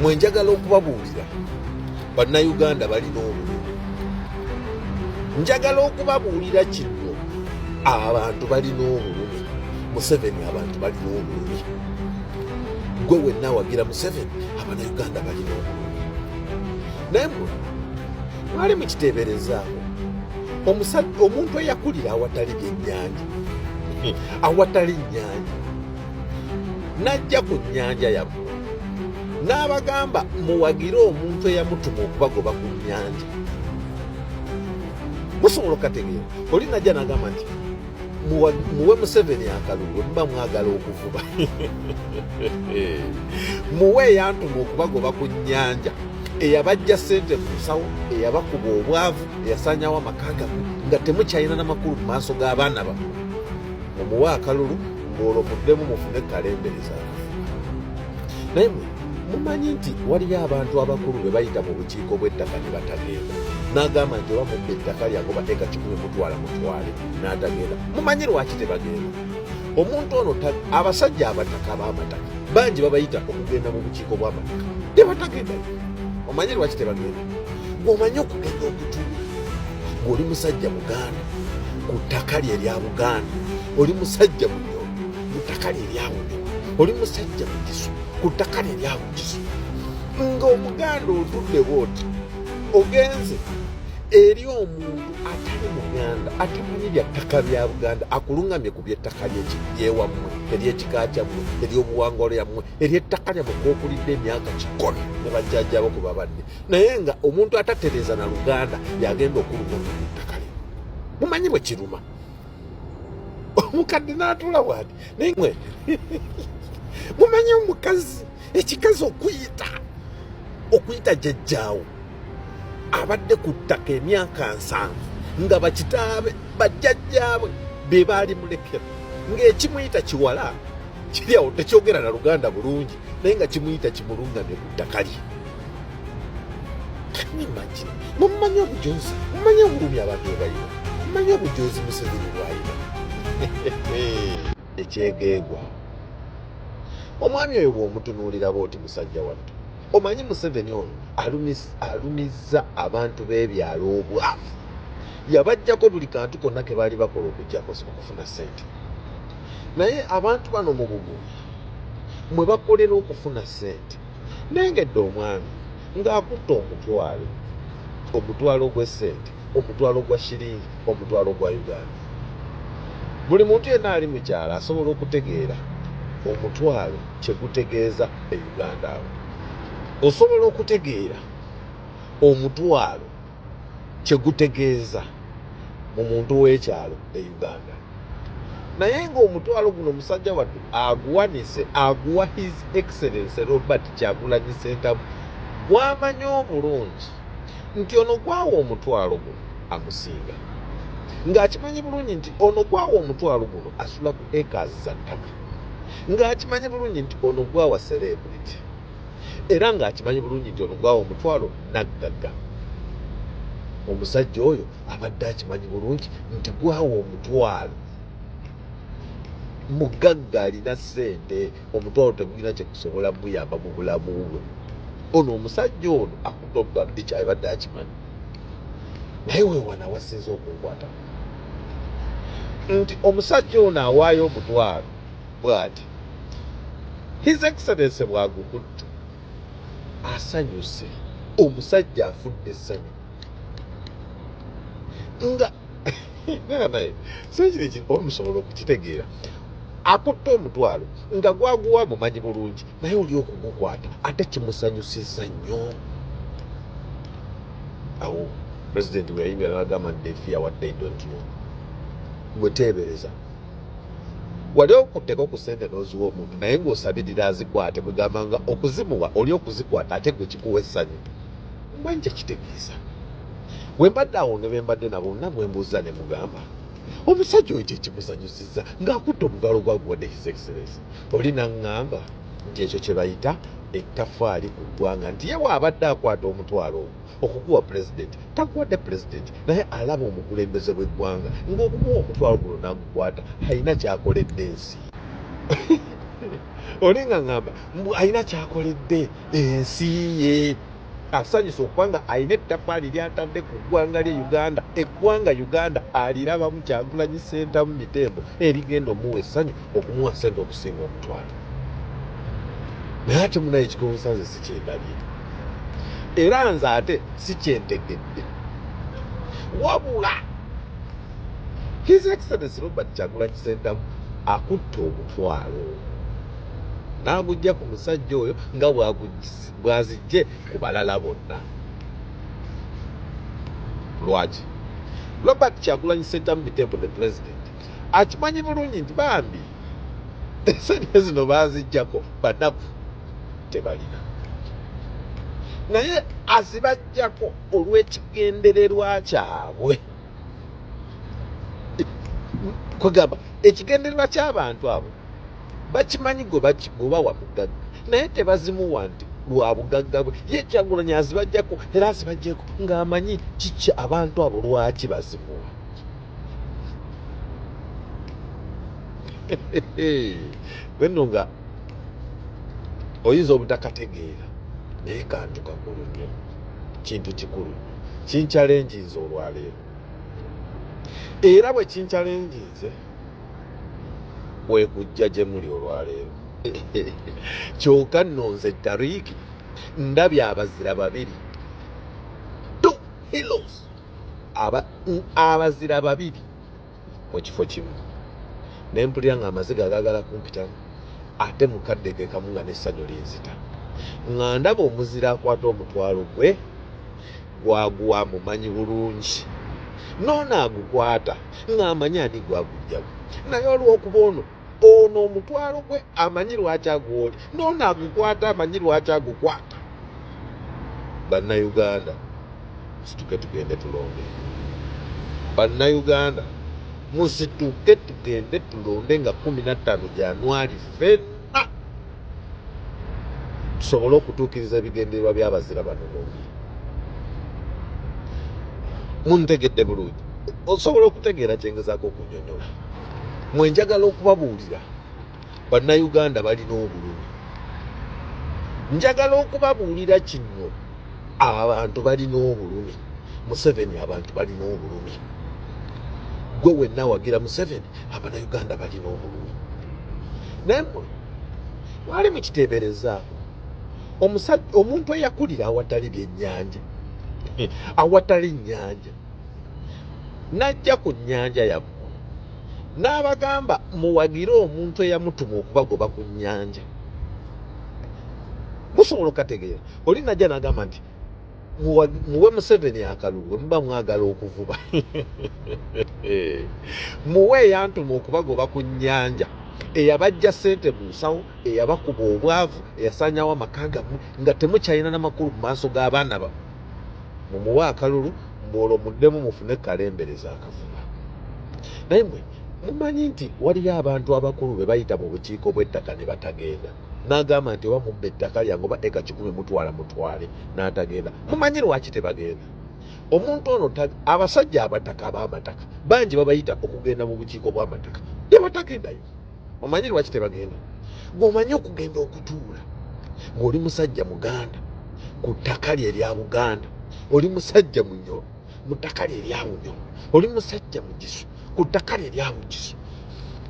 mwe njagala okubabuulira bannayuganda balina obulumi njagala okubabuulira kino abantu balina obulumi museveni abantu balina obulumi gwe wenna wagira museveni abanauganda balina obulumi naye mwe mwali mukiteeberezaako omusajja omuntu eyakulira awatali byennyanja hmm. awatali nnyanja najja ku nnyanja yabwe n'abagamba muwagire omuntu eyamutuma okubagoba ku nyanja musobola okukategeera oli najja nagamba nti muwe museveni akalulu muba mwagala okuvuba muwe eyantuma okubagoba ku nyanja eyabajja sente mu nsawo eyabakuba obwavu eyasanyawo amaka gamwe nga temukyalina namakulu mu maaso g'abaana bamwe omuwe akalulu olwo muddemu mufune kalembere zakafuba naye mumanyi nti waliyo abantu abakulu be bayita mu bukiiko bw'ettaka ne batagenda n'agamba nti oba mubba ettaka lyange obateeka kikumi mutwala mutwale n'atagenda mumanyi lwaki tebagenda omuntu ono abasajja abataka b'amataka bangi babayita okugenda mu bukiiko bw'amataka tebatagenda omanyi lwaki tebagenda gweomanyi okugenda okutuula ng'oli musajja muganda ku ttaka lye lya buganda oli musajja munyo mutaka lyawude oli musajja mukisu kutaka lyawukisu nga omuganda otudde bwoti ogenze eri omuntu atali muganda atamanyi bya ttaka bya buganda akulungamye ku byettaka lyewammwe eryekika kyammwe eryobuwangwa lyammwe eryettaka lyammwe kwokulidde emyaka kikoni ne bajjajjabo ku babadde naye nga omuntu atatereeza na luganda yagenda okulungamya ku ttaka lye mumanyi bwe kiruma omukadde n'atuula bwati naye mwe mumanye omukazi ekikazi okuyita okuyita jajjaawo abadde ku ttaka emyaka nsanvu nga bakitaabe bajjajjaabwe be baali mulekera ng'ekimuyita kiwala kiri awo tekyogera na luganda bulungi naye nga kimuyita kimulungamye ku ttaka lye imagine mumanyi obujozi mumanyi obulumi abantu ebalina mumanyi obujozi museveni bwalina ekyegeegwa omwami oyo bwomutunuulira booti musajja wattu omanyi museveni ono alumizza abantu b'ebyalo obwavu yabajjako buli kantu konna ke baali bakola okujjako okufuna ssente naye abantu bano mu bugumu mwe bakolera okufuna ssente Nnengedde omwami ng'akutte omutwalo, omutwalo gw'essente, omutwalo gwa shilingi, omutwalo gwa Uganda. Buli muntu yenna ali mu kyalo asobola okutegeera omutwalo kye gutegeeza e Uganda. Awo osobola okutegeera omutwalo. kye gutegeeza mu muntu w'ekyalo e uganda naye ng'omutwalo guno musajja wattu aguwanise aguwa his excellence robert kyagulanyi sentamu gwamanya obulungi nti ono gwawa omutwalo guno amusinga ng'akimanyi bulungi nti ono gwawa omutwalo guno asula ku acres za ttaka ng'akimanyi bulungi nti ono gwawa celebrity era ng'akimanyi bulungi nti olugwawo omutwalo naggagga omusajja oyo abadde akimanyi bulungi nti gwawo omutwalo mugagga alina ssente omutwalo tegulina kyekusobola muyamba mu bulamu bwe ono omusajja ono akutoga ekyabadde akimanyi naye wewana wasinza okunkwata nti omusajja ono awaayo omutwalo bwati his excellence bwagukuttu asanyuse omusajja afudde essanyu nga naye sekiri kikola musobola okukitegeera akutte omutwalo nga gwaguwa mumanyi bulungi naye oli okugukwata ate kimusanyusiza nnyo awo pulezidenti bweyayimira nagamba nti defiya wadde idontiyo gweteebereza wali okuddeko ku sente n'oziwa omuntu naye ng'osabirira azikwate kugamba nga okuzimuwa oli okuzikwata ate gwe kikuwa essanyu mba nja kitegeeza bwe mbadde awo ne be mbadde nabo bonna bwe mbuuzza ne mugamba omusajja oyo kyekimusanyusizza ng'akutte omugalo gwa gwade his excellence oli naŋŋamba nti ekyo kye bayita ettafaali ku ggwanga nti ye waabadde akwata omutwalo ogwo okukuwa pulezidenti takuwadde pulezidenti naye alaba omukulembeze bw'eggwanga ng'okumuwa omutwalo guno n'agukwata alina kyakoledde ensi oli nga ŋŋamba mbu alina kyakoledde ensi ye asanyusa okuba nga alina ettafaali lyatadde ku ggwanga lye uganda eggwanga uganda alirabamu kyagulanyi sentamu mitembo erigenda omuwa essanyu okumuwa sente okusinga okutwala naye ate munaye ekigonsa nze sikyendabye era nze ate sikyentegedde wabula his excellence robert kyagula kisentamu akutte omutwalo n'agujja ku musajja oyo nga bwazijje ku balala bonna lwaki robert kyagulanyi sentamu mitembo the president akimanyi bulungi nti bambi esente zino bazijjako banaku tebalina naye azibajjako olw'ekigendererwa kyabwe kwegamba ekigendererwa ky'abantu abo bakimanyi gwebawa bugagga naye tebazimuwa nti lwa bugagga bwe ye kyagulanyi azibajjako era azibajjeko ng'amanyi kiki abantu abo lwaki bazimuwa wenno nga oyinza obutakategeera naye kantu kakulu nyo kintu kikulu nyo kinkyalenjinze olwaleero era bwe kinkyalenjinze kwekujja gye muli olwaleero kyoka nno nze tariiki ndabye abazira babiri two hilos aba abazira babiri mu kifo kimu ne mpulira ng'amaziga agaagala kumpitamu ate mukadde ge kamu nga n'essanyu linzita nga ndaba omuzira akwata omutwalo gwe gwaguwa mumanyi bulungi noono agukwata ng'amanyi ani gwagujjamu naye olw'okuba ono ono omutwalo gwe amanyi lwaki agwoli noono agukwata amanyi lwaki agukwata bannayuganda situke tugende tulonde bannayuganda musituke tugende tulonde nga kumi nattaano janwali fenna tusobole okutuukiriza ebigendererwa byabazira bano bombi muntegedde bulungi osobola okutegeera kyengezaako okunyonyola mwe njagala okubabuulira bannayuganda balina obulumi njagala okubabuulira kino abantu balina obulumi museveni abantu balina obulumi gwe wenna wagira museveni abanauganda balina obulumi naye mwali mukiteeberezaako omuntu eyakulira awatali byennyanja awatali nnyanja n'ajja ku nnyanja yammwe n'abagamba muwagire omuntu eyamutuma okubagoba ku nnyanja musobola okukategeera oli najja n'agamba nti muwe museveni akalulu bwe muba mwagala okuvuba muwe eyantuma okubagoba ku nnyanja eyabajja sente mu nsawo eyabakuba obwavu eyasanyawo amaka gammwe nga temukyalina namakulu mu maaso g'abaana bamwe mumuwe akalulu mbuolwo muddemu mufune kalembereza akavuma naye mwe mumanyi nti waliyo abantu abakulu be bayita mu bukiiko bw'ettaka ne batagenda n'agamba nti oba mubba ettaka lyange oba eka kikumi mutwala mutwale n'atagenda mumanyi lwaki tebagenda omuntu ono abasajja abataka ab'amataka bangi babayita okugenda mu bukiiko bw'amataka tebatagendayo omanyi lwaki tebagenda gwe omanyi okugenda okutuula ng'oli musajja muganda ku ttaka lye erya buganda oli musajja munyo mu ttaka lye erya bunyo oli musajja mugisu ku ttaka lye erya bugisu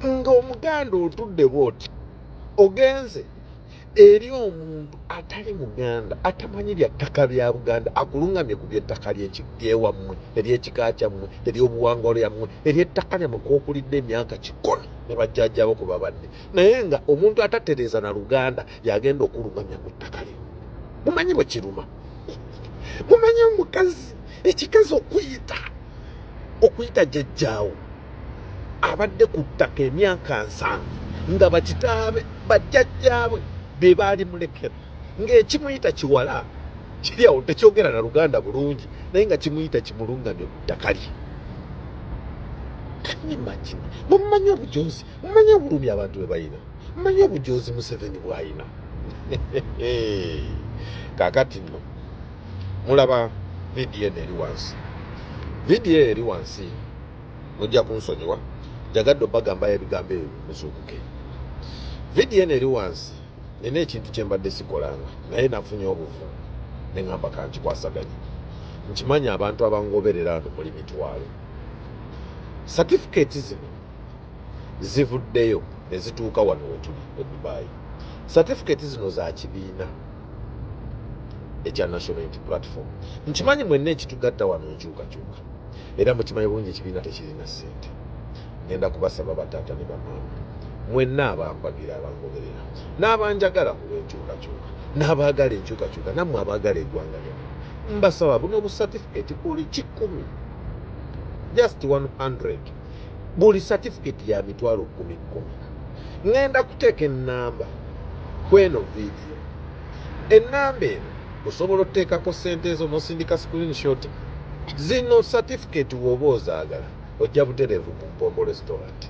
ng'omuganda otudde bwoti ogenze eri omuntu atali muganda atamanyi bya ttaka bya buganda akulungamye ku byettaka lyewammwe eryekika kyammwe eryobuwangwa lyammwe eryettaka lyammwe kwokulidde emyaka kikumi ne bajjajjabo ku babadde naye nga omuntu atatereeza na luganda yagenda okulungamya ku ttaka lye mumanyi bwe kiruma mumanyi omukazi ekikazi okuyita okuyita jajjaawo abadde ku ttaka emyaka nsanvu nga bakitaabe bajjajjaabwe be baali mulekera ng'ekimuyita kiwala kiri awo tekyogera na luganda bulungi naye nga kimuyita kimulungamye ku ttaka lye kanimagina mumanyi obujoozi mumanyi obulumi abantu be balina mumanyi obujoozi museveni bwalina kakati nno mulaba vidiyo eno eri wansi vidiyo eri wansi mujja kunsonyiwa njagadde obagambayo ebigambo ebyo muzuukuke vidiyo eno eri wansi nina ekintu kyembadde sikolanga naye nafunye obuvu neŋamba kankikwasaganye nkimanyi abantu abangoberera ano muli mitwalo satifiketi zino zivuddeyo nezituuka wano wetuli e dubai satifiketi zino za kibiina ekya national unity platform nkimanyi mwenna ekitugatta wano nkyukakyuka era mukimanyi bulungi ekibiina tekirina ssente ngenda kubasaba bataata ne bamaama mwenna abampagira abangoberera n'abanjagala ku lw'enkyukakyuka n'abaagala enkyukakyuka nammwe abaagala eggwanga lyona mbasaba buno busatifiketi buli kikumi just 100 buli satifiketi ya mitwalo kumi kumi ŋŋenda kuteeka ennamba kweno viidi Ssebo. Ennamba eno osobola oteekako ssente ezo n'osindika screenshot zino certificate w'oba ozaagala ojja butereevu ku Mpombo Restaurant.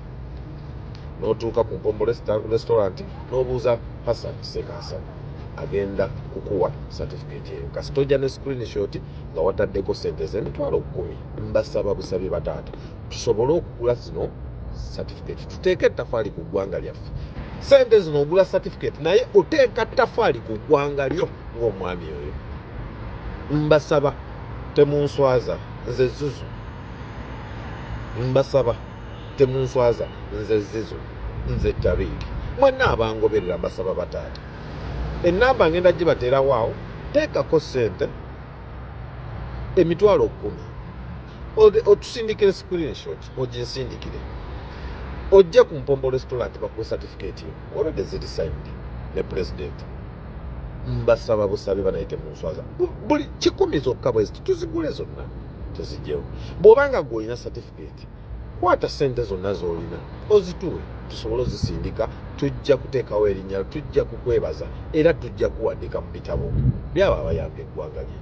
N'otuuka ku Mpombo Restaurant n'obuuza Hassan Ssekasana agenda kukuwa certificate eyo kasita ojja ne screenshot nga wataddeko ssente z'emitwalo kkumi. Mbasaba busabi bataata. tusobole okugula zino certificate tuteeke ettafaali ku ggwanga lyaffe sente zino ogula certificate naye oteeka ttafaali ku ggwanga lyo ng'omwami oyo mbasaba temunswaza nze zuzu mbasaba temunswaza nze zizo nze tabiiki mwenna abangoberera mbasaba bataata enamba ngenda gibateerawaawo teekako sente emitwalo kkumi otusindikire screenshot oginsindikire ojje ku mpombo restaurant bakuwe certificate yo already ziri signed ne president mbasaba busabe banayite mu nswaza buli kikumi zokka bwezi tuzigule zonna tuzigyewo bw'oba nga gwe olina certificate kwata sente zonna z'olina ozituwe tusobole ozisindika tujja kuteekawo erinnya tujja kukwebaza era tujja kuwandika mu bitabo byabo abayamba eggwanga lye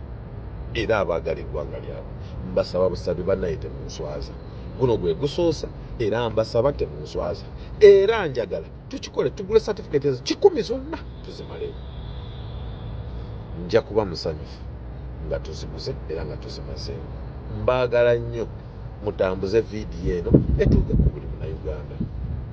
era abaagala eggwanga lyabwe mbasaba busabi banaye temunswaza guno gwe gusoosa era mbasaba temunswaza era njagala tukikole tugule certificate ezo kikumi zonna tuzimaleyo nja kuba musanyufu nga tuziguze era nga tuzimazeeyo mbaagala nnyo mutambuze vidiyo eno etuuke ku buli munauganda